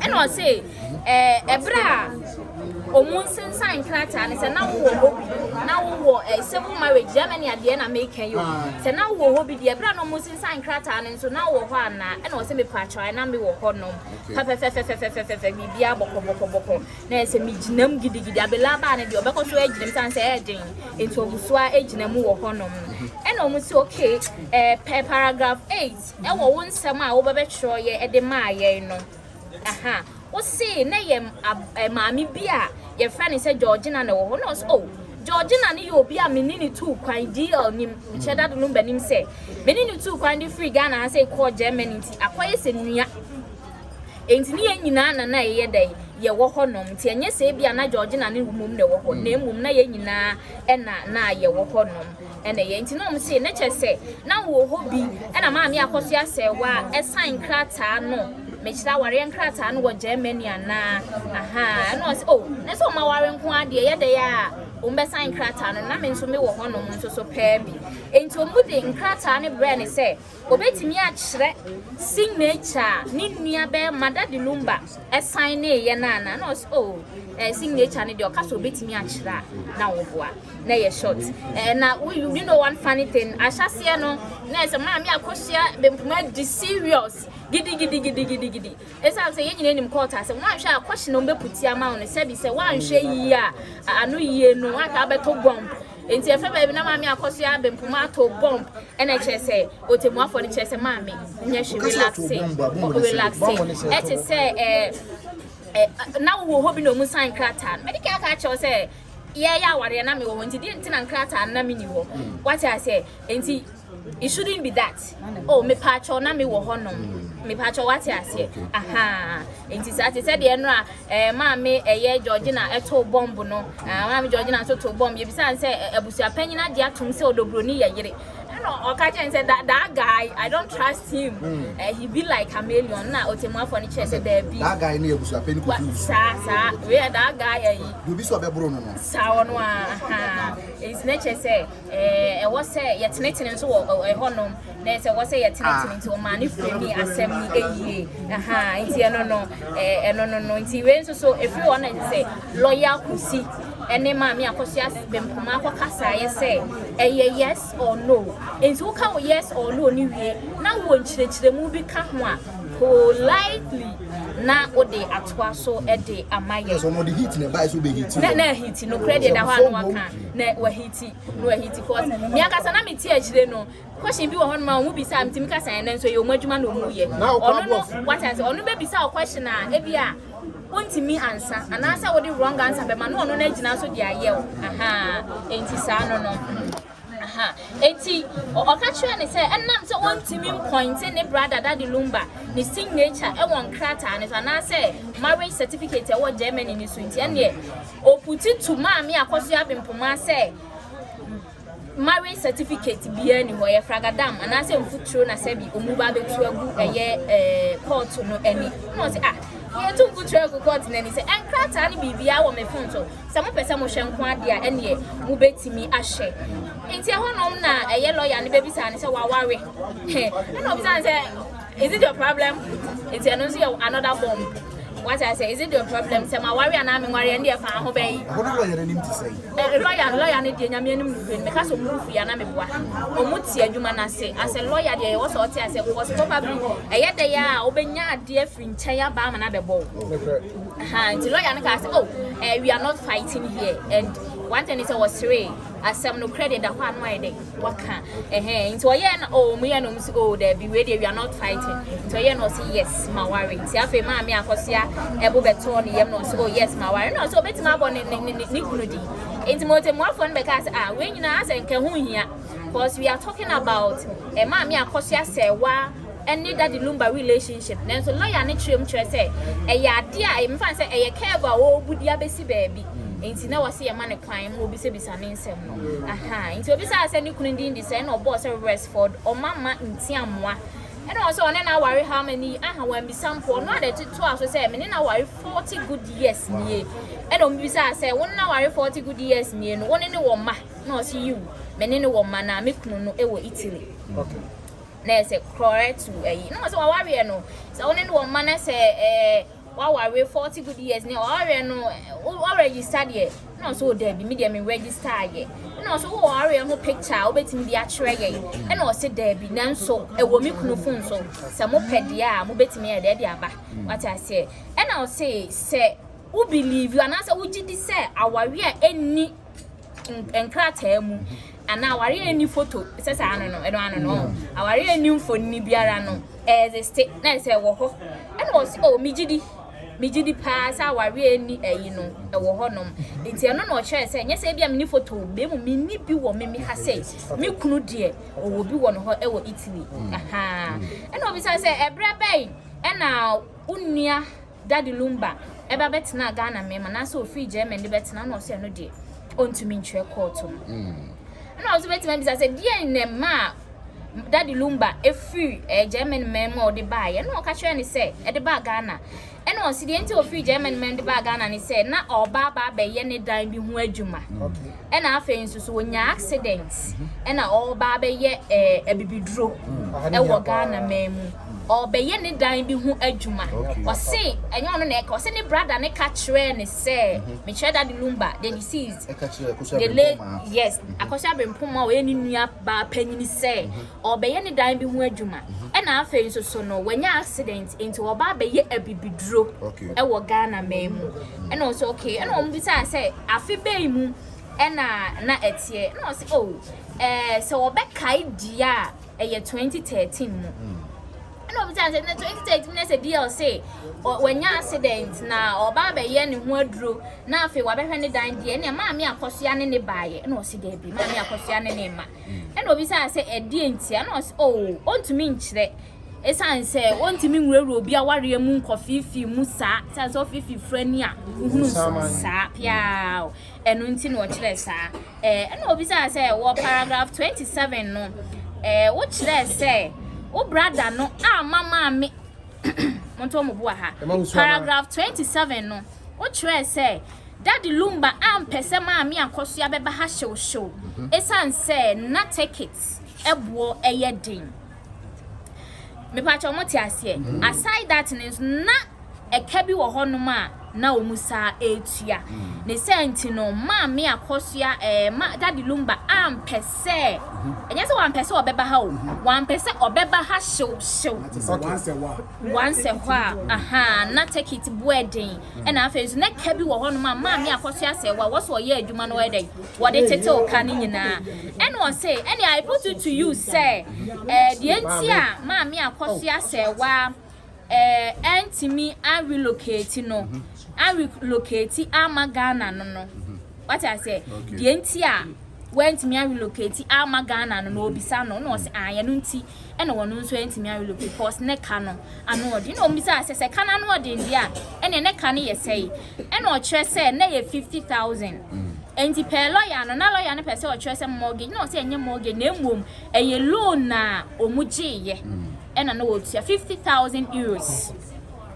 Ɛna ɔse ɛɛ ɛberɛ a ɔmo nsensan nkrataa no sɛ na wowɔ hɔ bi na wowɔ ɛɛ civil marriage Germany adeɛ na meka yi o sɛ na wowɔ hɔ bi deɛ ɛberɛ a na ɔmo nsensan nkrataa no nso na wowɔ hɔ anaa ɛna ɔse mepakyɛw ayɛ na mewɔ hɔ nom pɛpɛpɛpɛpɛpɛpɛpɛ biribiara bɔkɔbɔkɔbɔkɔ na ayɛ sɛ megyinam gidigidi Abela baa no deɛ ɔbɛkɔ so agyina mu sane sɛ ɛyɛ den nti ɔmo nso ara gyina mu wɔ hɔ nom no ɛna ɔmo se okay ɛɛ paragraph eight wɔ wo nsɛm a wobɛbɛtwerɛeɛ de maa yɛn no ha. Wo se na yɛ maame bi a yɛfrɛ no sɛ Georgina na wɔ hɔ. Na ɔsɛ, oh, Georgina no yɛ obi a mene ne tuu kwan DL nim, nkyɛ dado no ba nim sɛ mene ne tuu kwan de firi Ghana ha sɛ kɔɔ Germany nti akɔyɛ sɛ nua. Enti ne yɛn nyinaa na na yɛyɛ dɛn yɛwɔ hɔ nom. Nti ɛnyɛ sɛ ebi a na Georgina ne mmom na ɛwɔ hɔ, na mmom na yɛn nyinaa na na yɛwɔ hɔ nom. Ɛna ɛyɛ nti na wɔn se na kyɛ sɛ na wɔ hɔ bi ɛna maame akɔ so asɛɛwa ɛsan nkrataa no mekyerɛ awareɛ nkrataa no wɔ Germany anaa ahaa ɛna ɔse oh na sɛ wɔn aware nko adeɛ yɛ dɛ yɛ a wɔn bɛsan nkrataa no na me nso me wɔ hɔ nom nso so pɛɛ bi nti wɔn de nkrataa no brɛ ne sɛ Obetumi akyerɛ signature a ne nua bɛyɛ Mada de Lumba san nee yɛ no anaa? Na ɔse oh eh, signature no deɛ ɔka sɛ obetumi akyerɛ a na woboa na ɛyɛ short eh, na wo you know one funny thing ahyɛseɛ no na ɛsɛ maame akosua bempoma di serious gidigidigidigidigidi ɛsiane sɛ yɛn nyinaa nim kɔɔta sɛ woanhwɛ a kɔhye na ɔmbɛputi ama wo no sɛbi sɛ woanhwɛ yie a ano yie no woataa bɛtɔ bɔmp nti ɛfɛ baabi na maame akɔsoa bempoma atɔ bɔmp Ɛna ɛkyerɛ sɛ otemuafoɔ no kyerɛ sɛ maame nyɛ hwe relaxe relaxe ɛte sɛ ɛɛ na wowɔ hɔ bi na ɔmu sign krataa no mɛde kɛaka akyɛw sɛ yɛyɛ awareɛ na mewɔ hɔ nti deɛ nti na nkrataa no na menni hɔ wate aseɛ nti it shouldn't be that oh mepaakyɛw na mewɔ hɔ nom mepaakyɛw wate aseɛ aha nti saa te sɛ deɛ no a Eh, maame, ɛyɛ eh, Georgina ɛtoo eh, bɔmb no. Eh, maame Georgina nso too bɔmb. Yɛbisaa no sɛ eh, abusuapanyin agye atom sɛ ɔdɔburoni yɛ yere. Ɛna ɔka kyerɛ no sɛ that, that guy, I don't trust him. Mm. Eh, he be like chameleon. Na ɔtɛmuafoɔ no kyerɛ sɛ daabi. That guy ne abusuapanyin kɔfi wusu. Saa, saa. Wei yɛ that guy ayi. Deɛ obi sɛ ɔbɛboro no no. Saa ɔno a, ha. Ɛnti na kyerɛ sɛ. Eh, ɛwɔ sɛ yɛtenetene nso wɔ ɛ- ɛhɔnom na ɛsɛ ɛwɔ sɛ yɛtenetene nti ɔmaa ne firani asɛm no ɛyie aha nti ɛno no eh, ɛno no no nti wei nso so ɛfiri hɔ no ɛte sɛ lɔya kosi ɛne maame akɔsoa bɛmpoma akɔkasaeɛ sɛ ɛyɛ yes or no nti woka wo yes or no ne wie na wɔ nkyerɛkyerɛmu bi ka ho a politely na wode atoa so de ama yɛ Yes, wɔn de heat na ɛbae so bɛ heat. na na ahiti nokorɛ deɛ da hɔ a no aka na wahiti na wahiti cause me ankasa na mete akyire no question bi wɔ hɔ no ma wɔn bisa mi ti mi kasa yɛn nan so yɛ wɔn adwuma na wɔn yɛ ɔno no wata sɛ ɔno bɛ bisa o question a ebi a wontumi ansa anaasɛ wode wrong answer bɛma na ɔno no agyina so de ayɛ o aha enti saa no no aha enti ɔka kyerɛ ne sɛ ɛnam sɛ wɔntumi mpɔnte ne brada dade lumba ne signature ɛwɔ nkrataa ne so anaasɛ marriage certificate ɛwɔ germany ne so nti ɛneɛ Oputi tu maa me akɔsoɛ abempoma sɛ marriage certificate biara nni hɔ, ɛyɛ fragadam anaasɛ mfuturo na sɛbi ɔmu ba abɛtu agu ɛyɛ kɔɔto no ani. Na ɔse ah, yɛtu mfuturo agu kɔɔto no ani sɛ nkrataa ne biribiara wɔ me phone so, sɛ mopɛ sɛ mohwɛ nko adeɛ a ɛneɛ mobɛtumi ahwɛ. Nti ɛhɔnom na ɛyɛ lawyer no bɛbisaa no sɛ waware? He, ɛna ɔbisaa no sɛ. Is it your problem? Nti ɛno nso yɛ another bomb. Wate ase? Is it your problem? Sɛ ma wari anaa me nwari ɛnde ɛfa ho bɛyi. Ɛhɔ no lɔya n'anim te sɛn? Ɛ lɔya no lɔya no deɛ nyame anim no hwɛ no meka sɛ ɔmo rufu yɛ ana meboa. Ɔmo te adwuma no ase. Asɛ lɔya deɛ ɛwɔ sɛ ɔte ase because probably ɛyɛ dɛ yɛ a ɔbɛnya adeɛ afiri nkyɛn aba ama no abɛbɔ wo. Ahaa nti lɔya no kaa sɛ oh eh, we are not fighting here and one thing ne sɛ ɔseree. asɛm nokorɛ deɛ ɛda hɔ ano ayɛ dɛ waka ɛhɛn nti ɔyɛ na oh ɔmo yɛ na ɔmo si oh daabi wei deɛ we are not fighting nti ɔyɛ na ɔsi yes ma ware nti afei maame akɔsoa ɛbo bɛtɔɔ ne yam na ɔsi oh yes ma ware na ɔsi ɔbɛtumi abɔ ne ne ne ne kunu di nti mo tɛmuafoɔ no bɛka sɛ ah wei nyinaa sɛ nkɛ ho hia cause we are talking about eh, maame akɔsoa sɛ wa. ne Daddy Lumba relationship nanso lɔya no kyerɛ mu kyerɛ sɛ ɛyɛ adeɛ a ɛyɛ mefa no sɛ ɛyɛ curve a wɔrebu de abɛsi baabi nti na wɔse yɛma no kwan ma obisabisa ne nsɛm no aha nti obisaa sɛ ne kunu din de sɛ ɛna ɔbɔɔ sɛ Resford Ɔmama Ntiamoa ɛna ɔsɛ ɔne no aware how many aha wambisa mpo ɔno adɛ totoa so sɛ mene no aware 40 good years nie ɛna ɔmbisaa sɛ wo ne no aware 40 good years nie no wo ne ne wɔ mma na ɔse yiw mene ne wɔ mma na me kunu no ɛwɔ Italy okay. na ɛyɛ sɛ korɔɛ to ayi na wɔsɛ wawareɛ no sɛ wo ne no wɔ mma na sɛ ɛɛ wawareɛ forty good years ne wawareɛ no ɔrɛgista deɛ na ɔsɛ ɔda bi me deɛ me rɛgista ayɛ na ɔsɛ wɔ wawareɛ ho picture a wobɛtumi de akyerɛ yɛn ɛna ɔsɛ da bi nanso ɛwɔ me kunu fon so sɛ mopɛ deɛ a mobɛtumi ayɛ deɛ de aba wate aseɛ ɛna ɔsɛ sɛ wo believe anaasɛ wogye di sɛ awareɛ a ɛnni nkrataa mu anaa aware a ɛni foto sɛ saa ano no ɛno ano no aware a ɛni mfonini biara no ɛɛzeste na ɛsɛ ɛwɔ hɔ ɛna ɔsi o oh, megye di megye di paa sɛ aware a ɛni ɛyi no ɛwɔ hɔ nom nti ɛno na ɔkyerɛ sɛ nyɛ sɛ ebi a meni foto bɛn mu meni bi wɔ me me ha sɛ me kunu deɛ ɔwɔ bi wɔ no hɔ ɛwɔ Italy ɛna ɔbisa sɛ ɛbrɛ bɛn ɛna wo nua Daddy Lumba ɛba bɛtenaa Ghana mɛma no asɛ ɔfiri German de bɛtena na ɔsɛ ɛno deɛ ɔntumi ntwerɛ kɔɔto no. Ɛna ɔso bɛtumi abisa sɛ deɛn na ɛma a Daddy Lumba ɛfiri eh, German mɛma a ɔde baa yɛ na ɔka kyerɛ ne sɛ ɛde baa Ghana. Ɛna ɔse deɛ nti ɔfiri German mɛma de baa Ghana ne sɛ na ɔba aba abɛyɛ ne dan bi ho adwuma. Okay. ɛna afei nso so ɔnyaa accident ɛna ɔreba abɛyɛ ɛɛ abibiduro ɛwɔ Ghana man mu ɔrebɛyɛ ne dan bi ho adwuma ɔse ɛnyɛ ɔno na ɛka ɔse ne brada ne ka kyerɛɛ ne sɛ mekyerɛ dade lumba the deceased the late yes akɔhyɛ abempoma ɔyɛ ne nua baa panyini sɛ ɔrebɛyɛ ne dan bi ho adwuma ɛna afei nso so no wanya accident nti ɔba abɛyɛ abibiduro ɛwɔ Ghana man mu ɛna ɔsɛ okay ɛna wɔn bisa sɛ afe bɛyi mu ɛna na ɛteɛ ɛna ɔsɛ o oh, ɛɛ sɛ ɔbɛkae dua a ɛyɛ 2013 mu. Mm. ɛna obi sɛ na 2013 na sɛ dl se wanya accident na ɔba abɛyɛ ne ho aduro na afei wabɛhwɛ ne dan deɛ ɛnea maame akɔsoa ne ne baeɛ ɛna ɔsi daabi maame akɔsoa ne ne ma Ɛnna obisaa sɛ, Ɛdeɛn ntia? Ɛnna ɔse, O, ɔntumi nkyerɛ. Esiane sɛ ɔntumi nwurawura obi awareɛ mu nkɔfeefee mu saa, esiane sɛ ɔfeefee firani a wohunu nso saa pea o, ɛno nti na ɔkyerɛɛ saa. Ɛɛ, ɛnna obisaa sɛ, Wɔ paragraph 27 no, ɛɛ, wokyerɛɛ sɛ wo brada no amma maame monto mo bo wɔ ha. Paragraph 27 no, wokyerɛɛ sɛ Daddy Lumba ampɛ sɛ Maame Akosua bɛba ha hyewhyew esiane sɛ na tekit boɔ yɛ den. Mepakyɛw mote aseɛ? Aside that no nso, na ɛka bi wɔ hɔnom a na wɔn saa retua. Ne saa nti no, Maame Akosua, eh, ma, Daddy Lumba ampɛ sɛ, ɛnyɛ sɛ wampɛ sɛ ɔbɛba ha o, wampɛ sɛ ɔbɛba ha hyewhyew. Once a while, aha, na tekit boɔ yɛ den. ɛna afei nso na ka bi wɔ hɔ nom a maame akɔso asɛ wɔ a wɔsɔ ɔyɛ adwuma no ɔyɛ dɛ wɔde tetew ka no nyinaa ɛna ɔse ɛne I put it to you sɛ ɛɛ deɛ nti a maame akɔso asɛ wɔ a ɛɛ ɛntumi arelocate no arelocate ama Ghana no no wate asɛ deɛ nti a wɛntumi arelocate ama Ghana no na obisa no na ɔse ayɛ no nti ɛna wɔn nso antumi awilo because ne ka no ano ɔden na wɔn bisaa sɛ sɛ ka no ano ɔden deɛ a ɛna ne ka no yɛ sɛe ɛna ɔkyerɛ sɛ na yɛ fifty thousand nti pɛɛ lɔya no na lɔya no pɛ sɛ ɔkyerɛ sɛ mortgage na ɔsɛ ɛnyɛ mortgage na mmom ɛyɛ loan na wɔn gyeeɛ ɛna na wɔtua fifty thousand euros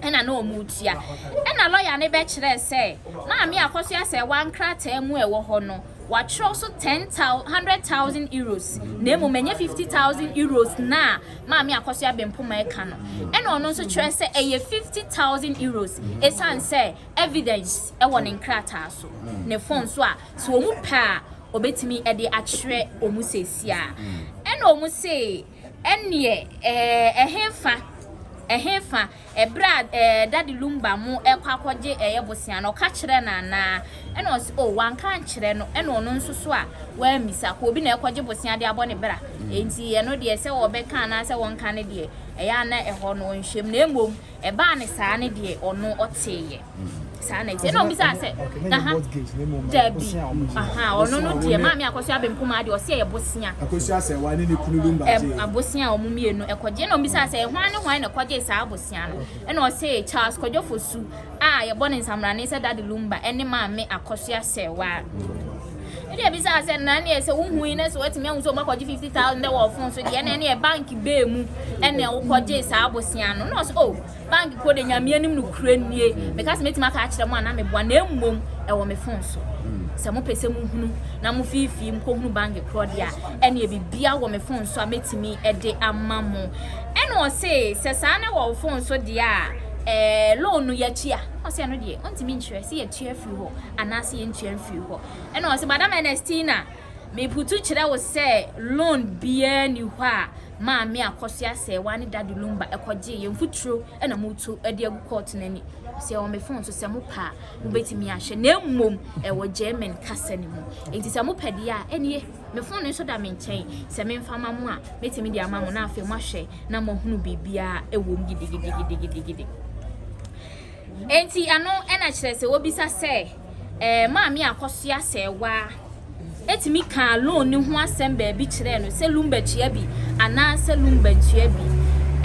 ɛna na wɔn retua ɛna lɔya no bɛkyerɛ sɛ maame akɔso asɛ wɔn nkrataa mu ɛwɔ hɔ no. wɔakyerɛw so ten thou hundred thousand euros, na mmom ɛnyɛ fifty thousand euros no a Maame Akosua-Bempoma reka no. Ɛnna ɔno nso kyerɛ sɛ ɛyɛ fifty thousand euros esiane sɛ evidence wɔ ne nkrataa so, ne fon so a sɛ wɔpɛ a obetumi de akyerɛ wɔn seesei ara. Ɛnna wɔse. Ɛnneɛ ɛɛ, ɛhefa, ɛhefa, ɛberɛ a ɛɛ, Daddy Lumba mo ɛkɔ akɔgye ɛyɛ bosea no, ɔka kyerɛɛ no anaa? Ɛna ɔse, oh, wanka ankyerɛ no, ɛna ɔno nso so a, wammisa, kɔ obi na ɛkɔgye bosea de abɔ ne bra, enti ɛno deɛ sɛ ɔbɛka anaasɛ ɔnka no deɛ, ɛyɛ a na ɛhɔ no ɔnhwɛm, na mmom, Ɛbaa ne saa ne deɛ ɔno ɔtee yɛ saa na ɛte ɛna ɔbisaa sɛ aha dabi aha ɔno no deɛ maame akɔsua benkum adeɛ ɔsi ɛyɛ bosia akɔsua sɛ wɔn ne ne kunu bi mbagye abosia a wɔn mmienu ɛkɔgye ɛna ɔbisaa sɛ ɛhwan ne hwan na ɛkɔgye saa abosia no ɛna ɔsɛ Charles Kwadwofosu a yɛbɔ ne nsamrane sɛ dade lumba ɛne maame akɔsua sɛ waa. Ɛde abisaa sɛ na neɛ sɛ wohu yi na sɛ watumi ahu sɛ ɔmakɔgye 50,000 dɛ wɔ ɔfon so deɛ na ɛneɛ bank bɛɛ mu ɛna wokɔgye saa bosea no na ɔsɛ o oh, bank kɔ de nyame anim no kura nie meka sɛ mɛtumi aka akyerɛ mu ana meboa na mmom ɛwɔ me fon so sɛ mopɛ sɛ mohunu na mo fiifii mkɔhunu bank korɔ deɛ a ɛneɛ bibia wɔ me fon so a mɛtumi ɛde ama mo ɛna ɔse sɛ saa na wɔ wo fon so deɛ a ɛɛ loan no yɛatua ɔsɛ ɛno deɛ ɔntumi nkyerɛ sɛ yɛtua firi hɔ anaasɛ yɛntua mfiri hɔ. Ɛna ɔse, Madam Ernestina, meputu kyerɛ wo sɛ loan biara ni hɔ a maame akɔso asɛewa ne dade lumba ɛkɔgyee yɛn mfuturo ɛna moto ɛde agu kɔɔto no ani. Ɔse, ɛwɔ me fon so sɛ mopɛ a mobɛtumi ahwɛ na mmom ɛwɔ German kasa no mu. Enti sɛ mopɛ deɛ a ɛneɛ me fon no nso da me nkyɛn sɛ memfa ma mo a mɛtumi de ama mo na afei moahwɛ na moahunu biribiara ɛwɔ mu gidigidigidigidigidi. Enti ɛno na kyerɛ sɛ wobisa sɛ ɛɛ maame akɔsoa sɛɛwaa etumi kaa loan no ho asɛm baabi kyerɛɛ no sɛ lumba tua bi anaasɛ lumba ntua bi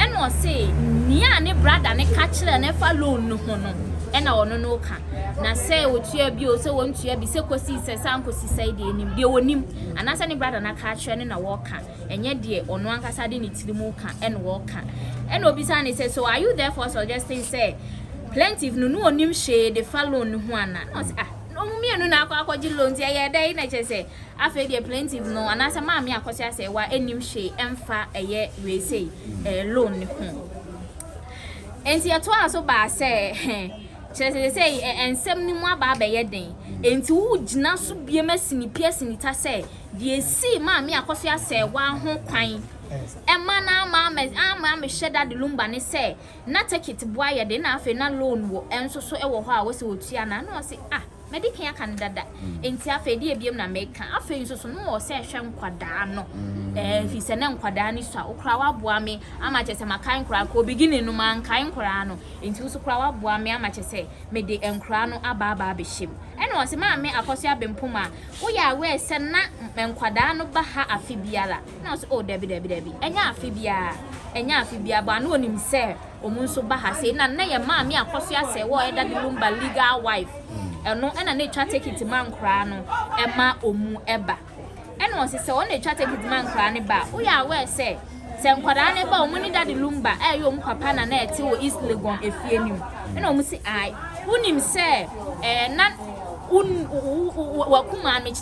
ɛna ɔse nea ne brada ne ka kyerɛ no ɛfa loan no ho no ɛna ɔno no ka na sɛ otua bi o sɛ wɔntua bi sɛ kɔsi sɛ sɛ ankɔsi sɛ deɛ nim deɛ wɔnim anaasɛ ne brada no aka akyerɛ no na wɔka ɛnyɛ deɛ ɔno ankasa de ne tiri mu ka ɛna ɔka. Ɛna obisa ne sɛ, so are you therefore suggesting sɛ plaintiff no na ɔnim hwee de fa loan no ho anaa? Ɛna ɔse, ah, na wɔn mmienu na akɔ akɔgye loan nti ɛyɛ dɛn? Na kyerɛ sɛ afei deɛ plaintiff no anaasɛ maame Akɔso Asɛɛwa nnim hwee ɛmfa ɛyɛ wei sei ɛɛ loan no ho. Nti ɛtoaa so baa sɛ kyerɛ sɛ sɛsɛi ɛnsɛm no mu aba abɛyɛ den nti wogyina so biam asinipia asinita sɛ Deɛ esii maa me Akosua Asɛɛwaa ho kwan ma na ama ama ama mehwɛ Dade Lumba ne sɛ, na tekit boa yɛ de na afei na loan wɔ nso so wɔ hɔ a wɔ sɛ wɔtua na na ɔse ah madi kan aka no dada nti afei deɛ biam na meka afei nso so no wɔ sɛ hwɛ nkwadaa no ɛɛ eh, fi sɛ na nkwadaa no sua okura waboa me ama kyɛ sɛ makae nkwadaa kɔ beginning no mankae nkwadaa no nti nso kura waboa me ama kyɛ sɛ mede nkwadaa no aba aba abɛhyɛ mu ɛna ɔse maame akɔso abempoma Woyɛ aware sɛ na nkwadaa no ba ha afe biara? Ɛna ɔse, Oh, dabi, dabi, dabi. Ɛnyɛ afe biara, ɛnyɛ afe biara, but na ɔnim sɛ ɔmo nso ba ha sei. Na nnɛ yɛn maame a Kwasu Asɛɛ wɔ Ɛda de Lumba legal wife, ɛno ɛna na ɛtwa tekiti ma nkoraa no ɛma ɔmo ɛba. Ɛna ɔse, sɛ ɔno na ɛtwa tekiti ma nkoraa no ba a, woyɛ aware sɛ Sɛ nkwadaa no ba a, wɔn ne Daddy Lumba a ɛyɛ wɔn papa na na ɛte wɔ East Legon efie no mu. Ɛna wɔn si ae. Wonim sɛ ɛɛ na wo wo wo waku maame kyerɛ.